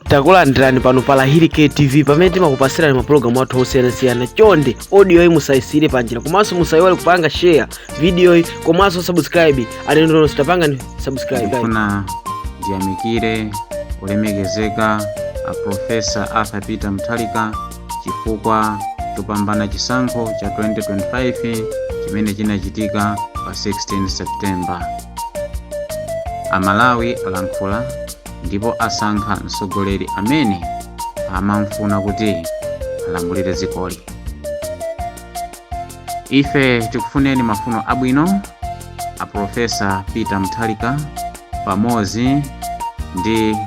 takulandirani pano pa lahiri ktv pamene timakupasirani mapulogalamu athu osiyanasiyana chonde odiyoyi musayisiyire panjira komanso musayiwale kupanga share vidiyoyi komanso subscribe alendonu tapangani subscribe ndifuna ndiyamikire olemekezeka a profesa arthur peter mutharika chifukwa chopambana chisankho cha 2025 chimene chinachitika pa 16 september amalawi alankhula ndipo asankha mtsogoleri amene amamufuna kuti alamulire dzikoli ife tikufunireni mafuno abwino a profesa peter mutharika pamodzi ndi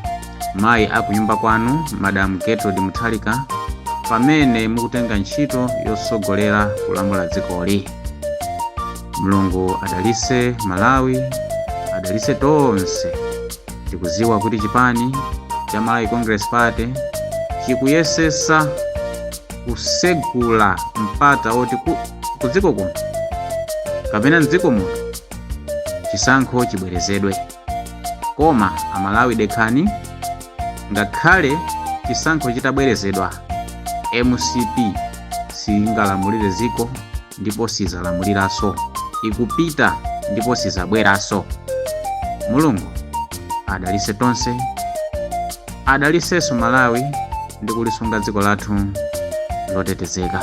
mayi akunyumba kwanu madam gertrude mutharika pamene mukutenga ntchito yotsogolera kulamula dzikoli mulungu adalise malawi adalise tonse tikuziwa kuti chipani cha malawi congress party chikuyesesa kusegula mpata oti kudziko kuno kapena mdziko muno chisankho chibwerezedwe koma amalawi dekhani ngakhale chisankho chitabwerezedwa mcp singalamulire dziko ndipo sizalamuliranso, ikupita ndipo sizabweranso. Mulungu adalise tonse, adalisenso Malawi ndi kulisunga dziko lathu lotetezeka.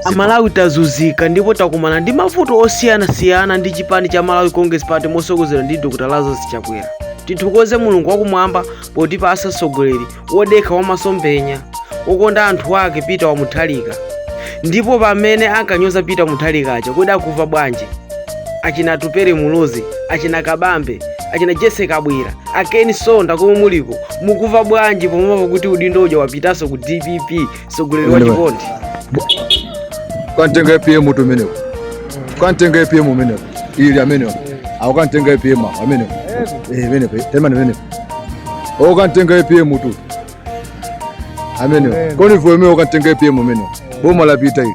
Amalawi tazuzika ndipo takumana ndi mavuto osiyana siyana ndi chipani cha Malawi Congress Party mosogozedwa ndi Dr. Lazarus Chakwera. Tithokoze Mulungu wakumwamba potipasa msogoleri wodekha wamasomphenya wokonda anthu ake peter wamuthalika ndipo amene ankanyoza peter muthalika aja kodi akuva bwanji achina atupere muluzi achina kabambe achina jessie kabwila a ken msonda komwe muliko mukumva bwanji pomva kuti udindo uja wapitanso ku dpp mtsogoleri wa chikondi kantenga apm tu amenewo kantenga apm amenewo ili amenewo awo kantenga apm awo amenewo Eh, amenewo temani amenewo o kantenga apm tu amenewo koni vuemewo kantenga apm amenewo boma lapita ili